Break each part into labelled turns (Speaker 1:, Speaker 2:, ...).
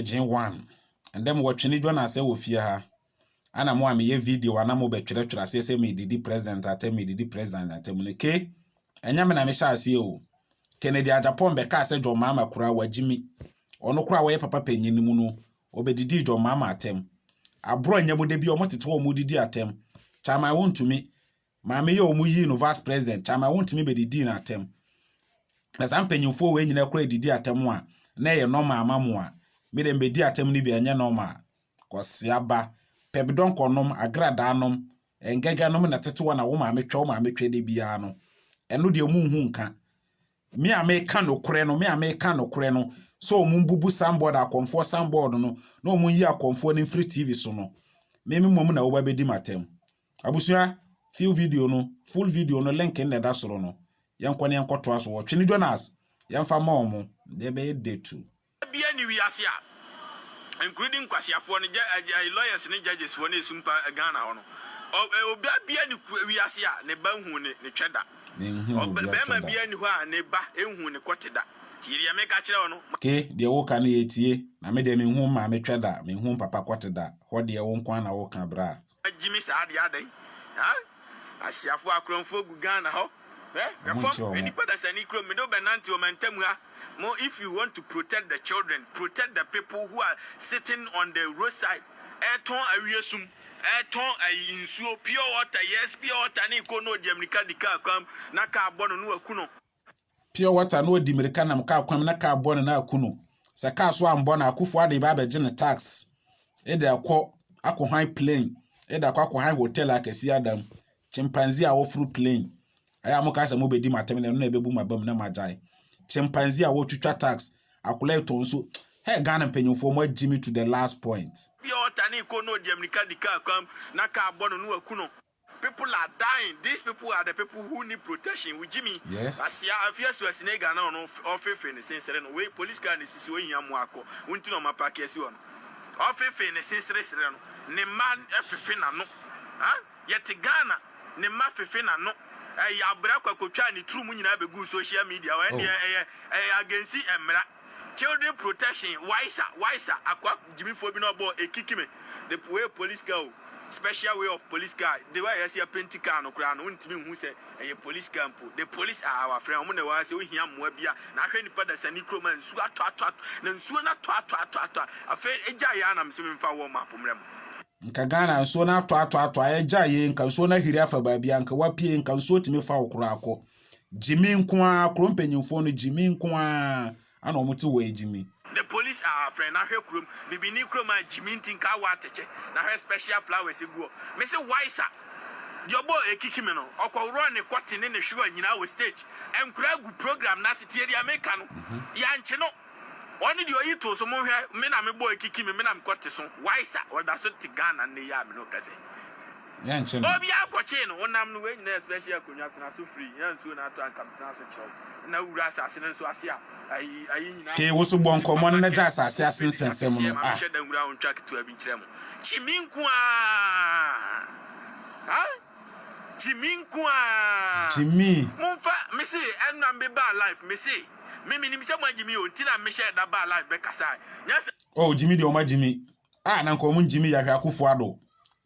Speaker 1: gyegye wan. Ndɛ mowɔ twene dwa no asɛ wɔ fie ha ana mo a meyɛ video ana mo bɛtwerɛtwerɛ aseɛ sɛ medidi president atɛm medidi president atɛm no ke ɛnyɛ me na mehyɛ aseɛ o Kennedy Agyapong bɛkaa sɛ John Mahama koraa wagye mi ɔno koraa wɔyɛ papa panyin no mu no ɔbɛdidii John Mahama atɛm aborɔ nyɛ mo da bi ɔmo tete wɔn mo didi atɛm Chairman wontumi Maame yi a wɔyii no vice president kyɛ ama wontumi bedidii no atɛm. Na saa mpanyimfoɔ wei nyinaa koraa didi atɛm a, na ɛyɛ normal ama mo a, me deɛ mebedi atɛm no bi a ɛnyɛ normal. Kɔsea ba, pɛbidɔnkɔ nom, agradaa nom, ɛngɛgɛ nom na tete hɔ na wo maame twɛ, wo maame twɛ da biara no, ɛno deɛ wɔn nhu nka. Me a meka nokorɛ no, me a meka nokorɛ no, sɛ wɔn bubu sanbɔɔd, akɔmfoɔ sanbɔɔd no, na wɔn yi akɔmfoɔ no mfiri TV so no, me me mmom na woba bedi m'atɛm. Abusua, few video no, full video no link no na ɛda soro no. Yɛnkɔ na yɛnkɔtoa so wɔ Twene Jonas. Yɛmfa ma wɔn, deɛ ɛbɛyɛ day two. Bia ni wiase
Speaker 2: a including nkwaseafoɔ no jɛ lawyers ne judges foɔ no esumpa Ghana hɔ no obaa bia ni wiase a ne ba nhuu ne twɛ da bɛɛma bia ni hɔ a ne ba nhuu ne kɔte da tie deɛ meka kyerɛ wo no Ke deɛ woka no yɛ
Speaker 1: tie na me deɛ menhuu maame twɛ da menhuu papa kɔte da hɔ deɛ wo nko ara na woka braa. Gyimi saa deɛ
Speaker 2: adɛn haa Asiafoɔ akorɔmfoɔ gu Ghana hɔ hwɛ hwɛ fam hwɛ nnipa dasani kurom mede wo bɛnante ɔmantam ha mo if you want to protect the children protect the people who are sitting on the road side ɛretɔn awie sum ɛretɔn ayi nsuo pure water yes pure water ne kɔ na ɔdi amirika di kaa kwan mu na kaa bɔ no na waku no. pure water
Speaker 1: na ɔdi mmirika nam kaa kwan mu na kaa bɔ no na aku no. Sɛ kaa so ambɔ no akufo ade ba abɛgye ne tax de akɔ akɔhan plane de akɔ akɔhan hotel akɛseɛ ada mu. Chimpanzee a wɔforo plane. Ɛyɛ a mo kaa sɛ mo bɛdi m'atɛm na ɛno na ɛbɛbu m'aba mu na magyae. Chimpanzee a wɔtwitwa tax akola ɛtɔ nso. Hey, Ghana mpanyinfoɔ mo agye me to the last point. Pure water ne kɔ na ɔdi mmirika di kaa kwan mu na kaa
Speaker 2: bɔ no na waku no. People are dying these people are the people who need protection wo gyimi asia afia
Speaker 1: asu asina
Speaker 2: ega na ɔno ɔfefe ne sensere no wei police car na esisi ohia mmoa akɔ wo nti na ɔma paaki asi hɔ no ɔfefe ne sensere sere no ne mma ɛfefe n'ano ha yɛte Ghana ne mma fefe n'ano ɛyɛ abrɛ akɔ akɔtwaa ne turu mu nyinaa bɛguu social media wɔ ɛndeɛ ɛyɛ ɛyɛ agensi ɛmmera. Children Protection, Waisa, Waisa, Akoa gyimifoɔ bi na ɔbɔɔ Ekikime de puee police car o, special way of police car, the way a yɛasi apenti car no koraa no wontumi nhu sɛ ɛyɛ police car mpo, the police are our friend, wɔn na ɛwɔ ha sɛ wohia mmoa bi a, na ahwɛ nnipa dasani kurom a nsuo atɔ atɔ atɔ, na nsuo no atɔ atɔ atɔ atɔ a, afei egyae yɛn a na mese memfa wɔn map mmerɛ mo. Nka Ghana
Speaker 1: nsuo no atɔ atɔ atɔ a, ɛgyae yɛn, nka nsuo no ahiri afa baabi a, nka wapue, nka nsuo tumi fa wo koraa kɔ. Gyimii nko ara, kuro mpanyinfoɔ no gyimii nko ara ana wɔn te hɔ yɛ gyimii. The police are our
Speaker 2: friend na hwɛ kurom bibini kurom a gyimii nti nka awɔ atɛkyɛ na hwɛ special flowers egu hɔ me se wai sa deɛ ɔbɔ ɛkiki me no ɔkɔ worɔ ne kɔte ne ne hwewa nyinaa wɔ stage ɛnkura agu program no ase tie deɛ meka no yankye no. Ɔno deɛ ɔyi too so monhwɛ me na me boy kiki me me na me kɔ te so why sa ɔda so te Ghana nnɛ yi a me ne wo kasa yi Yɛnkye
Speaker 1: no. obiara kɔkyee no wonam
Speaker 2: no wei nyina yɛ special akonwa tena so free yɛ nsuo na ato a nka me tena so kyerɛ wo na wura asase no nso ase a ayi ayi nyina Hey, wo so bɔ nkɔmmɔ no
Speaker 1: na gya asase ase nsɛnsɛm no, ah. Menhyɛ da nwura wo ntwa
Speaker 2: ketewa bi nkyerɛ mo kyi me nko aa ah. Gyimii nko aa. Gyimii. Mo nfa
Speaker 1: me se
Speaker 2: ɛna me baa life me se me me nim sɛ mo a gyimii o nti na me hyɛɛ da baa life bɛ kasa nyɛ sɛ. Oh gyimii deɛ ɔma
Speaker 1: gyimii ah na nka ɔmo gyimii yahwɛ akufo ado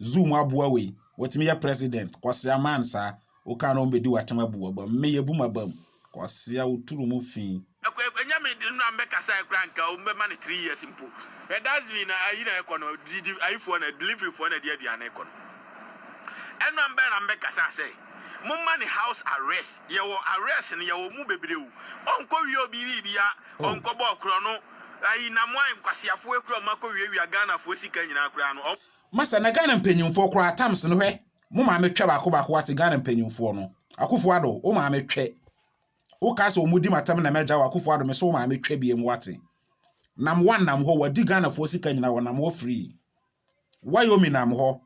Speaker 1: zoo mu aboa wei watumi yɛ president kwasea man saa okaa na ɔmo bɛdi watem abu wabam me yɛbu mabam Kwasea wo turu mu fii. Ɛnyɛ me de no
Speaker 2: na mɛkasa ɛ koraa nka ɔmo bɛma no three years mpo ɛ dustbin na ayi na ɛkɔ no didi ayifoɔ na delivery foɔ na ɛde aduane kɔ no ɛno bɛn na mɛkasa sɛ momma no house arrest yɛwɔ arrest no yɛwɔ mu bebree o ɔnkɔ wie obi biribia ɔnkɔ bɔ ɔkorɔ no ayi na mo ayɛ nkwaseafoɔ kura ɔmo akɔ wiawia Ghanafoɔ sika nyinaa koraa no ɔmo. Masa na Ghana
Speaker 1: mpanyinfoɔ koraa Tams no hwɛ Mo maame twɛ baako baako wate Ghana mpaninfoɔ no Akufo Addo wo maame twɛ wo kaa sɛ ɔmo di matam na mɛgya wo Akufo Addo me se wo maame twɛ biem wate nam wa nam hɔ wadi Ghanafoɔ sika nyina wɔ nam hɔ firi Wyoming nam hɔ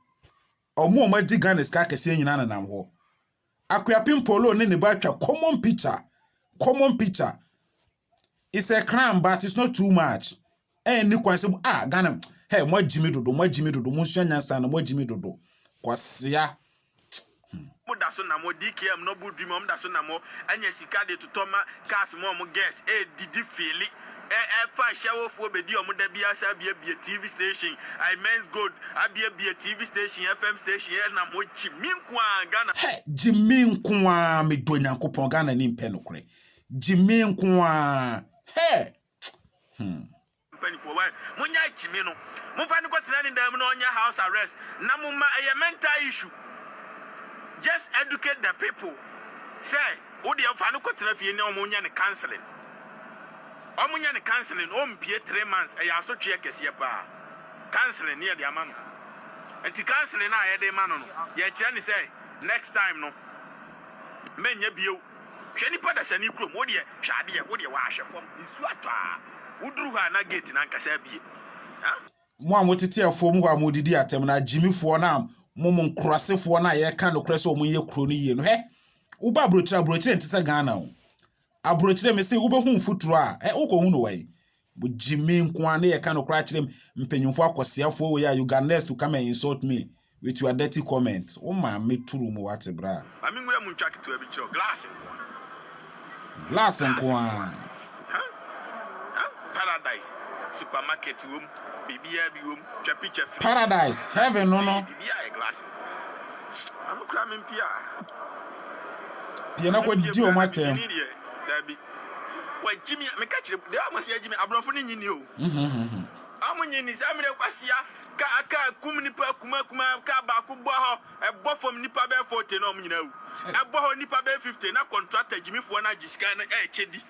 Speaker 1: ɔmo ɔmo adi Ghana sika akɛseɛ nyina ne nam hɔ Akuapem Polo ne ne ba atwa common picture common picture It's a crime but it's not too much. Ɛnni kwan sɛ ah Ghana hey moagye me dodo moagye me dodo monsua nyansa na moagye me dodo kwasea.
Speaker 2: Mo da so nam hɔ DKM no bo dwi ma ɔmo da so nam hɔ anya sika de totɔ ma cars ma ɔmo girls ɛɛdidi feeli ɛɛfa ahyɛwofoɔ bɛdi ɔmo da biara sɛ abiabie TV station I men's gold abiabie TV station FM station ɛnam hɔ gyi me nko ara Ghana Hɛ! Gye me
Speaker 1: nko ara medɔ Nyankopɔn Ghana ni mpɛ nokorɛ Gyimii nko ara. Hey! Hmm.
Speaker 2: Mpanyinfoɔ why monya gyimi no momfa no kɔtena ne dan mu na ɔnyɛ house arrest na moma ɛyɛ mental issue just educate the people sɛ wodeɛ fa no kɔtena fie na ɔmo nyɛ no counseling ɔmo nyɛ no counseling ɔmpie three months ɛyɛ asotweɛ kɛseɛ paa counseling ne yɛde ama no nti counseling a yɛde ma no no yɛkyerɛ ne sɛ next time no mɛnyɛ bio Hwɛ nipa dasani kurom wodeɛ hwɛ adeɛ wodeɛ w'ahwɛ fam nsuo atɔ aa woduru hɔ a na gate no ankasa abie aa. Mo a motete
Speaker 1: afuom hɔ a modidi atɛm no, agyimifoɔ no a mom nkurasefoɔ no a yɛka nokorɛ sɛ wɔn nyɛ kuro no yie no, hɛ! woba abrokyire a, abrokyire nte sɛ Ghana o. Abrokyire, mese wobɛhu mfuturo a, hɛ! wokɔhu no wɛn? Bogye me nko ara na yɛka nokorɛ akyerɛ mu. Mpanyimfoɔ akwaseafoɔ wei a you got nerves to come and insult me with your dirty comment. Wo maame turu mu wate bra. Ma me nwura mu ntwa ketewa
Speaker 2: bi kyerɛ wo, glass nko ara.
Speaker 1: Glass nko ara.
Speaker 2: Paradise, supermarket wom, biribiara bi wom, twa picture fi. Paradise, heaven no
Speaker 1: no. Biribiara yɛ glass
Speaker 2: nko ara. Ma me kura me mpia.
Speaker 1: Pia na kɔ di wɔn atɛm.
Speaker 2: Wɔagye me a meka kyerɛ mu. Deɛ wɔse wɔagye me, aborɔfo no nnye nni o. Wɔnnye nni. Saa mmerɛ yi kwasia kaa kaa kum nnipa akumaa kumaa. Kaa baako bɔ hɔ, ɛbɔ fam nnipa bɛyɛ 40 na wɔn nyinaa awu. Ɛbɔ hɔ nnipa bɛyɛ 50 na kɔntrata gyimifoɔ no agye sika no ɛrekyɛ di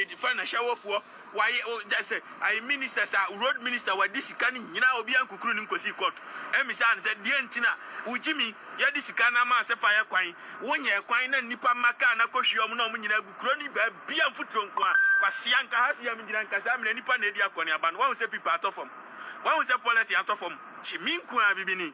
Speaker 2: de fa na hyɛ awofoɔ. Wayɛ o kyɛ sɛ ayɛ minister sa road minister wadi sika no nyinaa obiaa nkukuru no nkɔsii court ɛmisaa no sɛ deɛn nti na wo gyimi yɛde sika no amaa sɛ fa yɛ kwan wo nyɛɛ kwan na nnipa mma car no akɔhwie ɔmo na ɔmo nyinaa agu kuro no baabiaa mfuturo nkoaa kwasea nka ha se yɛmgyina nka saa mmerɛ nnipa na adi akɔneaba no wahu sɛ pipa atɔ fam wahu sɛ pɔlɛten atɔ fam gyimi nkoaa bibini.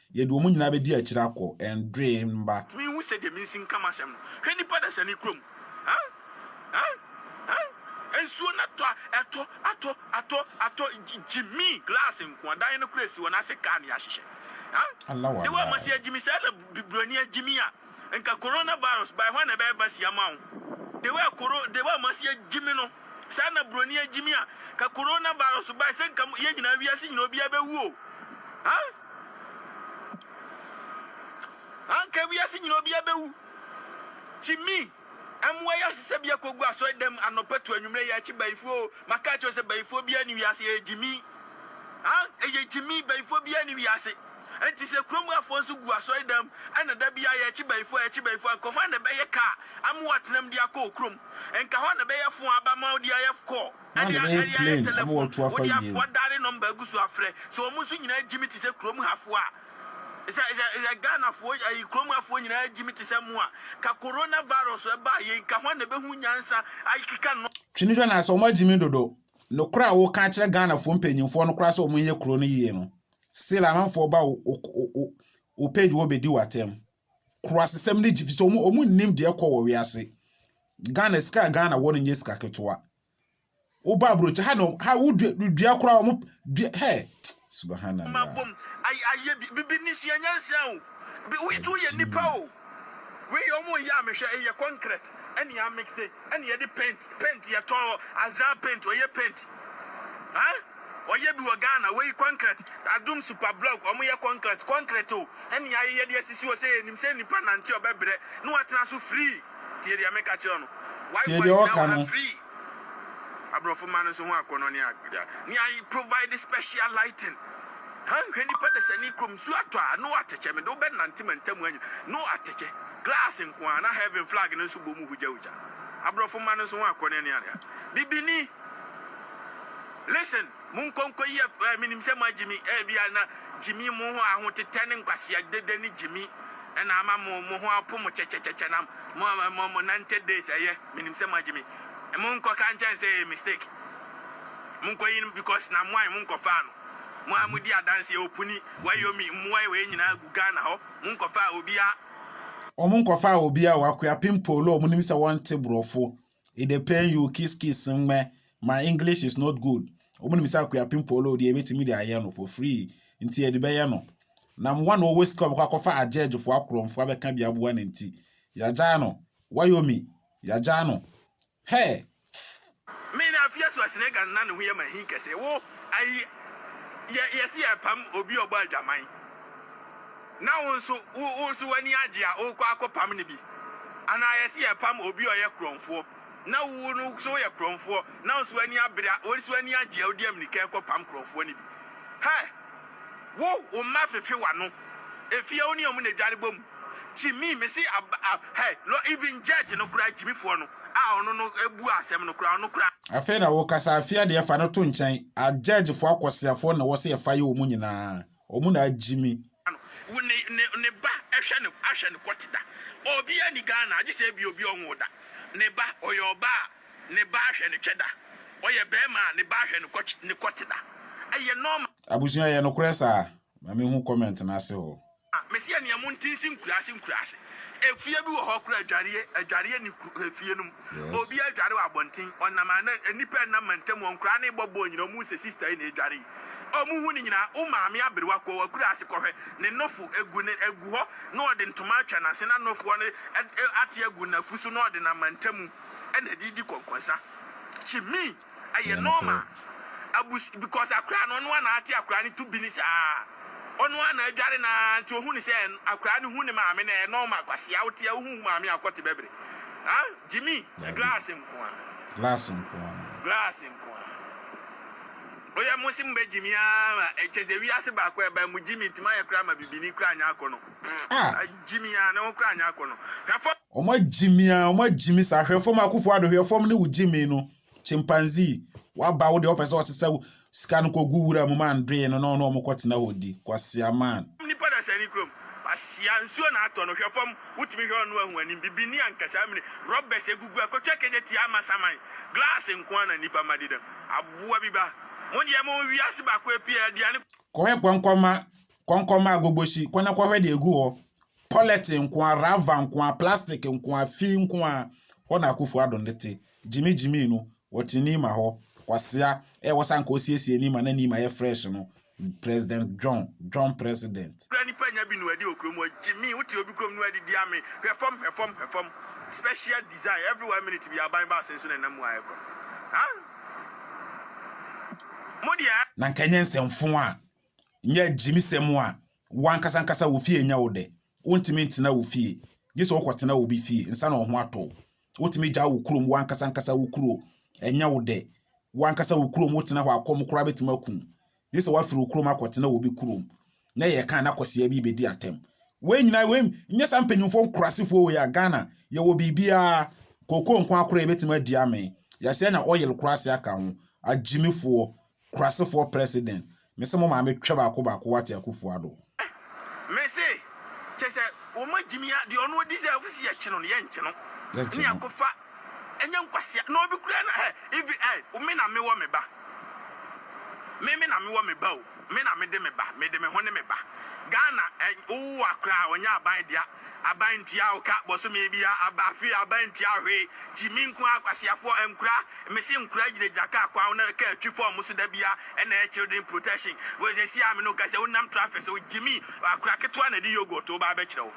Speaker 1: Yɛde wɔn nyinaa bɛdi akyire akɔ, Ndoye mma. Tumi nhu sɛdeɛ mensi nka
Speaker 2: m'asɛm no Hwɛ nnipa dasani kurom huh huh huh Nsuo no atɔ a ɛtɔ atɔ atɔ atɔ Gyi gyi me glass nkoa Dan no koraa si hɔ na ase kaa na yɛahyehyɛ huh
Speaker 1: Dewa ma sɛ agyi me saa
Speaker 2: na bu buroni agyi me a Nka corona virus bae hwan na ɛbɛyɛ basi ama wo Dewa koro Dewa ma sɛ agyi me no saa na buroni agyi me a Ka corona virus bae sɛ nka mo yɛn nyinaa wiase nyinaa obiara bɛwu o huh. Anka wiase nyinaa obiara bewu. Jimmy, mmoa yi asesa bi akogu asɔredam anɔpa to anwummere yi akyi bayifoɔ o, maka akyerɛ wo sɛ bayifoɔ biara ni wiase, ɛyɛ Jimmy. Ah, ɛyɛ Jimmy, bayifoɔ biara ni wiase. Enti sɛ kurom afoɔ nso gu asɔredam ɛna da biara yɛkye bayifoɔ, yɛkye bayifoɔ a, nka hwan na ɛbɛyɛ kaa ama woatenam de akɔ wo kurom? Nka hwan na ɛbɛyɛ fo a aba ma wode ayɛ kɔɔ? Ná ɔde bɛyɛ plane ama watu afa wiem. Twene hwɛ na sɛ wɔagye
Speaker 1: me dodo. Nokorɛ a woka kyerɛ Ghanafoɔ mpanyinfoɔ no koraa sɛ wɔnyɛ kuro no yie no, still amanfoɔ ba wo page hɔ bɛdi wo atɛm. Kurasesɛm no gye efisɛ wɔn wɔn nnim deɛ ɛkɔ wɔ wiase. Ghana sika a Ghana wɔ no nyɛ sika ketewa. Woba aburokyi ha na ha wodua dua koraa wɔn dua hɛ subahana la. Bom ayɛ
Speaker 2: ayɛ bi bibi ni sua nyansa o bi wo yɛ yɛ nipa o. Wei yɛ wɔn yɛ a mehwɛ ɛyɛ concrete ɛna yɛ amix ɛna yɛde paint paint yɛtɔ azaa paint ɔyɛ paint ah. Wɔyɛ bi wɔ Ghana, wei kɔnkrɛt, Adum Super Block, wɔn yɛ kɔnkrɛt, kɔnkrɛt o, ɛna yɛayeyɛ de asisi hɔ sɛ yɛnim sɛ nipa nante ɔbɛbrɛ na watena so free, tie deɛ meka kyerɛ wo no, why Tie deɛ wagyina ɔka wɔ ha no. free, aborɔfo mma no nso ho akɔnnɔ ne agbeda, ne a provide special lighting, han, hwɛ nipa dasani kurom, nsuo atɔ a, no atɛkyɛ, mede wo bɛnante mantam ha nyina, no atɛkyɛ, glass nko ara, na heaven flag no nso bɔ mu hogyahogya, aborɔfo mma no nso ho akɔnnɔ ne agbeda, bibini. Listen, monkɔ nkɔ yi ɛf eh, menim sɛ moagye mi, ebia na gyimi mo ho ahotetɛ ne nkwasea dede ne gyimi ɛna ama mo mo ho apo mo kyɛkyɛkyɛkyɛ na mo mo mo nante days ɛyɛ, menim sɛ moagye mi. Monkɔ ka nkyɛn sɛ ɛyɛ mistake. Monkɔ yi no because na moan monkɔfaa no. Mo a modi adanseɛ opuni, wayomi, mmoa wei nyinaa gu Ghana hɔ, monkɔfaa obiara.
Speaker 1: Wɔnkɔfaa obiara o, Akuapem Paul o, monim sɛ wɔnte borɔfo, it dey pain you kiss kiss mmɛ my english is not good wɔn nim sɛ akuapem polo deɛ ebetumi de ayɛ no for free nti yɛde bɛyɛ no na mmoa na ɔwɔ sika ɔbɛkɔ akɔfa agyɛgyefo akorɔmfo abɛka bi aboa ne nti yagyaa no wayomi yagyaa no hɛ.
Speaker 2: Me na afia so asene gan na ne ho yɛ ma hin kɛse wo ayi yɛ yɛsi yɛ pam obi ɔbɔ adwaman. Na wo nso, wo wo nso w'ani agye a worekɔ akɔpam no bi? Anaa yɛse yɛrepam obi a ɔyɛ korɔmfoɔ, na wo no nso woyɛ korɔmfoɔ, na wo nso w'ani abere a, wo nso w'ani agye a wode ammirika rekɔpam korɔmfoɔ no bi? Hɛ! Wo, wo mma fefe w'ano, efie wo ne wɔn na adware bɔ mu. Kyimi, mese ab a hɛ, lɔ even judge no koraa, Kyimifoɔ no a ɔno no bua asɛm no koraa, ɔno koraa. Afei na wokasa,
Speaker 1: afei adeɛ fa no to nkyɛn, a judgefoɔ akwaseafoɔ na ɛwɔ sɛ yɛfa yɛ wɔn nyinaa. Wɔn na agye me. Wo ne ne
Speaker 2: ne ba ɛhwɛ no ahwɛ no kɔte da obiaa ni Ghana agye sɛ ebia obi ɔnwoo da ne ba ɔyɛ ɔbaa a ne ba ahwɛ no twɛ da ɔyɛ bɛɛma a ne ba ahwɛ no kɔkye ne kɔte da ɛyɛ nɔɔma. Abusua ɛyɛ nokorɛ
Speaker 1: saa? Ma me hu comment no ase hɔ. Me se ɛneɛ mo
Speaker 2: nte nse nkuraase nkuraase efie bi wɔ hɔ kora adwareɛ adwareɛ ni kuro efie no mu obiaa dware wɔ abɔnten ɔnam a na nnipa ɛnam mantam hɔ nkoraa no bɔ bɔɔl nyina ɔmo se sister yi na adware yi a ɔmo hu no nyinaa, wo maame aberewa kɔ w'akura ase kɔhwɛ ne nofo egu ne egu hɔ na ɔde ntoma atwa n'ase na nofoɔ no ate agu n'afu so na ɔde no amantamu na ɛde redi kɔnkɔnsa kyi me ɛyɛ normal abus because akora no ɔno ara na ate akora no to bi ne saa ɔno ara na adware no ara nti ɔhu ne sɛ akora no hu ne maame na ɛyɛ normal kwasea wote a wohu wo maame a ɔkɔte bɛbere ha gyimi glass nkoa glass nkoa glass nkoa. Oyɛ mo se mo bɛ gyimi aa ma ɛkyɛ sɛ wiase baako a ɛbae mo gyimi nti mo ayɛ koraa ma bibini koraa anya akɔnɔ a gyimi aa ne ho koraa anya akɔnɔ hwɛ fɔm. Ɔmo agyimi
Speaker 1: aa ɔmo agyimi saa hwɛ fɔm Akufo Addo hwɛ fɔm ne wo gyimi no chimpanzee waba wo deɛ ɔpɛ sɛ ɔsesa wo sika no kɔ gu wura mu ma andoe no na ɔne ɔmo kɔ tena hɔ di kwasea man. Nipa dasani kurom
Speaker 2: kwasea nsuo na atɔ no hwɛ fɔm wotumi hwɛ ɔno ahu anim bibini ankasaa mini rubers agugu akɔtwa kegya tia ama saman glass nkoaa na nipa mma dedam. Aboa bi ba. Mo deɛ mo wiase baako apue aduane. Kɔhwɛ kɔnkɔma
Speaker 1: kɔnkɔma agogbohyi kɔ na kɔhwɛ deɛ egu hɔ pɔlɛt nkoa rava nkoa plastic nkoa fii nkoa hɔ na akufo ado ne te gyimi gyimi no wɔte nima hɔ kwasea ɛwɔ sɛ anka ɔsiesie nima na nima yɛ fresh no President John, John President. Kura nipa nya bi nuadi
Speaker 2: wɔ kuro mu hɔ gyimii wote obi kurom nuadi di ame hwɛ fam hwɛ fam hwɛ fam special design every one minute bi aban baasa nso na ɛnam mu ayɛ kɔ ha mo deɛ. Na nka nyɛ
Speaker 1: nsɛmfo a nyɛ agyimisɛm a wankasa nkasa wɔ fie nyɛ wo dɛ wontumi ntena wo fie gye sɛ wokɔtena obi fie nsa na ɔho atɔ wo Wotumi gyaw wo kurom, w'ankasa ankasa wo kuro. Ɛnyɛ wo dɛ. W'ankasa wo kurom wotena hɔ a, kɔm koraa betumi aku wo. Gye sɛ woafiri wo kurom akɔtena wɔ obi kurom, na yɛreka a na kwasea bi rebedi atɛm. Wei nyinaa, wei nyɛ saa mpanyimfoɔ nkuraasefoɔ wei a, Ghana, yɛwɔ biribiara. Cocoa nko ara koraa yɛbetumi adi amee. Yɛasɛe na oil koraa asɛe aka ho. Agyimifoɔ, Kurasefoɔ president me se mo maame twɛ baako baako wate Akuffo Addo. Ah me se
Speaker 2: kyɛ sɛ wɔn agyimi ya deɛ ɔno deserve se yɛkye no no yɛnkye no ne yɛakofa ɛnyɛ nkwasea na obi kura na hɛ even ai me na mewɔ me ba me me na mewɔ me ba o me na mede me ba mede me ho ne me ba Ghana eh wowowa koraa ɔnyɛ aban dea. Aban ntua wo ka bosome bia aba firi aban ntua hwee gyimi nkoaa kwasiafoɔ nkura mese nkura gyina gyina car kwan ho na car twi fɔm mo so dabia ɛna ɛyɛ children protection wei sɛsi a mene wo kasa wo nam traffic so gyimi akora ketewa na ɛde yogurt wo ba abɛkyerɛ wo.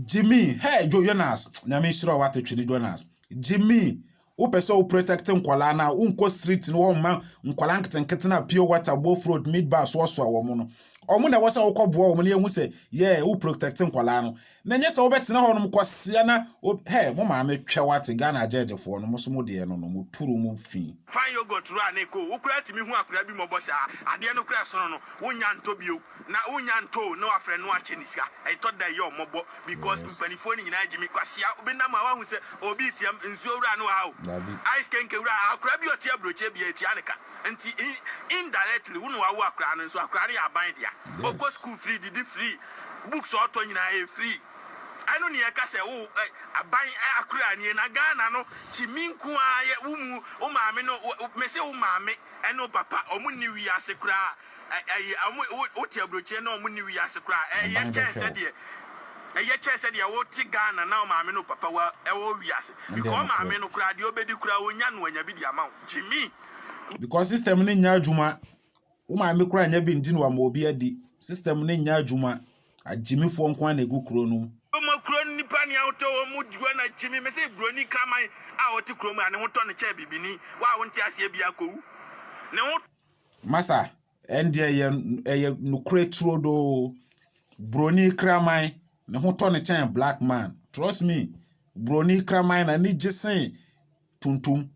Speaker 2: Gyimi hey
Speaker 1: dwo Jonas nyame nhyira wo wate twene Jonas gyimi Wopɛ sɛ wo protect nkwadaa no a, wonkɔ street no hɔ mma nkwadaa nketenkete no a pure water, both road, mid bar soasoa wɔn no. Wɔn na ɛwɔ sɛ wokɔboa wɔn na yɛhu sɛ, yeah, wo protect nkwadaa no. Na ɛnyɛ sɛ wobɛtena hɔ nom kwasea na, hɛ, mo maame twɛ wate, Ghana agyɛɛgyefoɔ no, mo nso mo deɛ no no, moturu mo fi. Fine yogurt wura ne
Speaker 2: ko, wo koraa tumi hu akwadaa bi mmɔbɔ saa? Adeɛ no koraa ɛsono no, wonnya ntɔ bio. Na wo nya ntoo na wafrɛ no akyɛ ne sika ɛtɔ da ɛyɛ ɔmɔbɔ because mpanifoɔ no nyinaa gyimi kwasea wo bɛnam a wahu sɛ obi retiam nsuo wura no wɔ ha o ice kenke wura akora bi ɔte aburokyɛ bia ɛtua ne ka nti indirectly wo na wawo akora no nso akora no yɛ aban dea ɔkɔ school free didi free books a ɔtɔ nyinaa ɛyɛ free ɛno ne yɛka sɛ wo aban akora nie na Ghana no kyimi nko ara yɛ wo mu wo maame no mese wo maame ɛne wo papa ɔmo nni wiase koraa Aban bɛhwɛ wo. Ɛndeɛ nokorɛ. Because
Speaker 1: system no nyɛ adwuma wo maame koraa nyɛ bi nti na wama obi adi system no nyɛ adwuma agyimifoɔ nko ara
Speaker 2: na ɛgu kuro no mu. Masa,
Speaker 1: Ɛndeɛ ɛyɛ ɛyɛ nokorɛ turodoo. Buroni kraman, ne ho tɔ ne kyɛn black man. Trust me, buroni kraman na ne gye sen tuntum.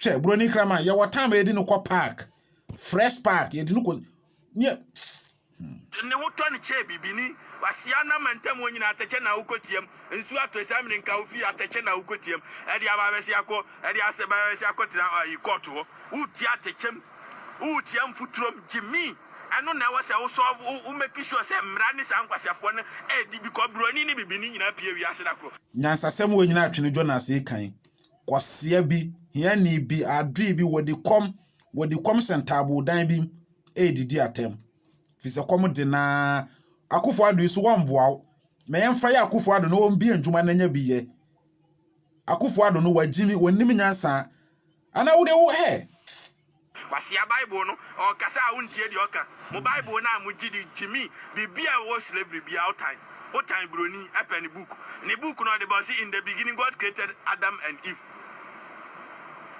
Speaker 1: Hwɛ, buroni kraman, yɛwɔ time a yɛde no kɔ park. Fresh park, yɛde no kɔ... Nyɛ... Hmm.
Speaker 2: Ne ho tɔ ne kyɛɛ bibini. Kwasea na amantam hɔ nyinaa atɛkyɛ na wokɔteam. Nsuo atɔ asiane mene nka wo fie atɛkyɛ na wokɔteam. Ɛde aba bɛsea kɔ, ɛde asɛ ba bɛsea kɔtena ayi kɔɔto hɔ. Woretie atɛkyɛm, woretia mfuturom. Gyimii, ɛno na ɛwɔ sɛ wo solve, wo wo make sure sɛ mmara ne saa nkwaseafoɔ no ɛredi because buroni ne bibini nyinaa pie wiase da koro. Nyansasɛm wei nyinaa
Speaker 1: twe no dwo na asee kan. Kwasea bi, hiani bi, adoe bi, wɔdi kɔm, wɔdi kɔm hyɛ ntaaboo dan bi mu. redidi atɛm fi sɛ kɔm de na akufo ado yi so wɔmboa wo ma yɛmfa yɛ akufo ado no wɔmbie ndwuma no nya bi yɛ akufo ado no wɔagyimi wɔnim nyansa ana wode wo hɛ Wasia
Speaker 2: bible no ɔkasa a wontie deɛ ɔka mo bible no a mo gye di gyimi biribi a ɛwɔ slavery bia wotan wotan broni ɛpɛ ne book ne book no ɔde ba ɔse in the beginning God created Adam and Eve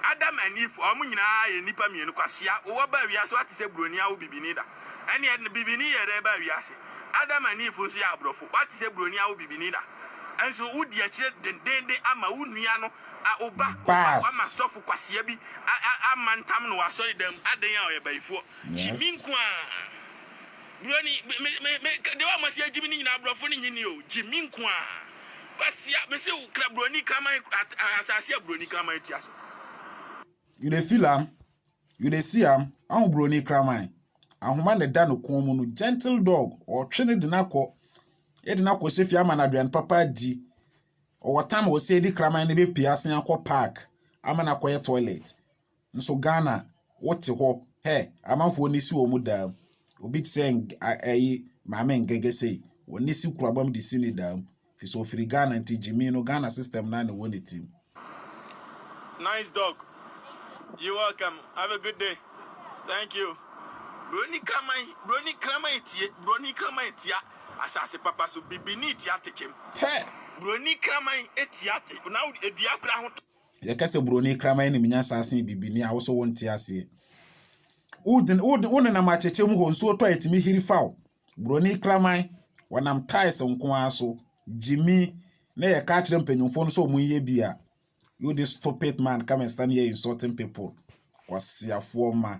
Speaker 2: Adam and Eve wɔn nyinaa yɛ nnipa mmienu kwasea wowɔ baa wiase woate sɛ buroni awo bibini da ɛneɛ bibini yɛ dɛn baa wiase Adam and Eve nso yɛ aborɔfo woate sɛ buroni awo bibini da nso wodi akyire dendeenden ama wo nua no a wo ba wo ba wama sɔfo kwasea bi a a amantam no wɔ asɔredan mu adɛn a ɔyɛ bayifoɔ kyi me nko a buroni me me me deɛ wɔn asi agyi me no nyinaa aborɔfo no nyi ni o gyi me nko a. Kwasia me se wo kra broni kraman asase a broni kraman ti ase.
Speaker 1: You dey feel am, you dey see am, ahu broni kraman. Ahoma na ɛda no kɔn mu no, gentle dog, ɔtwe ne de no akɔ, ɛde no akɔ sefie ama no aduane papa adi. Ɔwɔ tam a ɔsɛ di kraman no bɛpie asen akɔ park ama no akɔyɛ toilet. nso Ghana wote hɔ hɛ amanfoɔ ani si wɔn dam obi te sɛ ɛyi maame ngɛgɛ sei wɔn ani si kurabam de si ne dam fi sɛ ofiri Ghana nti gyimi no Ghana system na ne wɔ ne tim.
Speaker 2: Nice dog. You welcome. Have a good day. Thank you. Broni kraman, broni kraman etie, broni kraman etia asase papa so bibini etia tekyem. Hey. Broni
Speaker 1: kraman
Speaker 2: etia te. Na edua kura ho. Yɛka sɛ buroni
Speaker 1: kraman anim nya saa sen bibini a woso wonte aseɛ. Wonenam akyekyɛ mu hɔ nsuo tɔ a ɛtumi hiri fa wo. Buroni kraman wɔnam tiles nko ara so gyimi na yɛka akyerɛ mpanyinfoɔ no sɛ wɔn nyɛ bi a you this stupid man come and stand here insulting people kwasiafoɔ ma.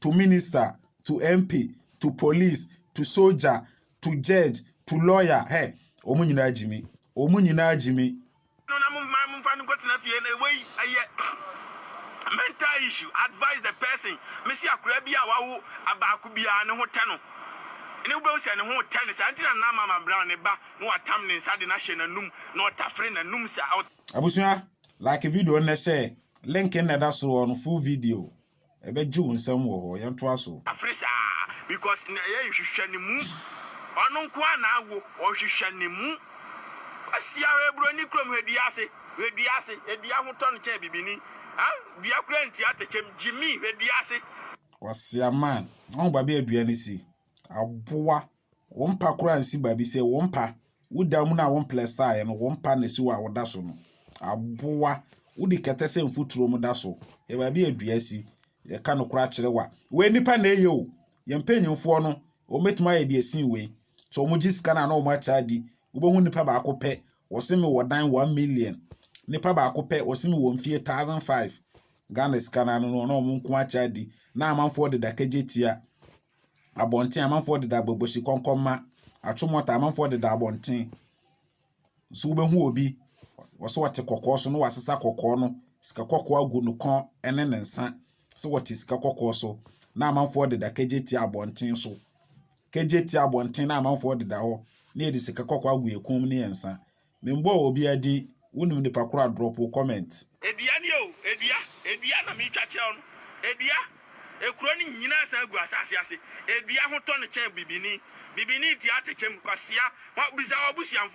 Speaker 1: to minister, to MP, to police, to soldier, to judge, to lawyer, hɛ, wɔn nyinaa gyimi, wɔn nyinaa gyimi.
Speaker 2: No na mo man mo nfa no nkɔ tena fie na ewei ɛyɛ mental issue advise the person me si akora bi a wawo abaako biara ne ho tɛ no ne wobɛhu sɛ ne ho tɛ ne saa nti na na mama brown ne ba na watam ne nsa de no ahyɛ n'anum na ɔtafere n'anum saa. Abusua
Speaker 1: like video nnɛ share link nnɛ da soɔ no full video. Ɛbɛgye wo nsam wɔ hɔ. Yɛntoa so. Afiri saa
Speaker 2: because na yɛ nhwehwɛ ne mu ɔno nko ara na awo ɔnhwehwɛ ne mu ɔsia wɔ ebroni kurom hɛ dua ase hwɛ dua ase edua ho tɔ no kyɛn bibini ah dua kura nti atɛkyɛm gyimi hwɛ dua ase. Kwasia
Speaker 1: man, ɔn babi a dua no si. aboa wo mpa koraa nsi baabi sɛ wo mpa woda mu no a wo mplɛstaeɛ no wo mpa na ɛsi hɔ a woda so no aboa wode kɛtɛ sɛ mfuturo mu da so yɛ baabi a dua si yɛka no koraa kyerɛ wa wei nipa na ɛyɛ o yɛn mpanyinfoɔ no wɔbɛtumi ayɛ deɛ sin wei sɛ wɔn gye sika no a na wɔn akyɛ adi wobɛhu nipa baako pɛ wɔse me wɔ dan one million nipa baako pɛ wɔse me wɔ mfie thousand five ghana sika no ano no na wɔn nko akyɛ adi na amanfoɔ de dakagye tia abɔnten, amanfoɔ deda bɔbɔsi kɔnkɔnma, atomɔta, amanfoɔ deda abɔnten. So wobɛhu obi, wɔsɛ ɔte kɔkɔɔ so na wasesa kɔkɔɔ no, sika kɔkɔɔ agu ne kɔn ne ne nsa, sɛ wɔte sika kɔkɔɔ so, na amanfoɔ deda kagyetia abɔnten so. Kagyetia abɔnten na amanfoɔ deda hɔ, na yɛde sika kɔkɔɔ agu yɛn kɔn mu ne yɛn nsa. Me mbɔɔ obia din wo nim nipa koro a drop wo comment. Edua nie o
Speaker 2: edua edua na metwa kyerɛ wo no edua ekuro no nyinaa san gu asase ase edua ho tɔ no kyɛn bibini bibini tia atekyɛm kwasia hwa bisa wabusuanfoɔ.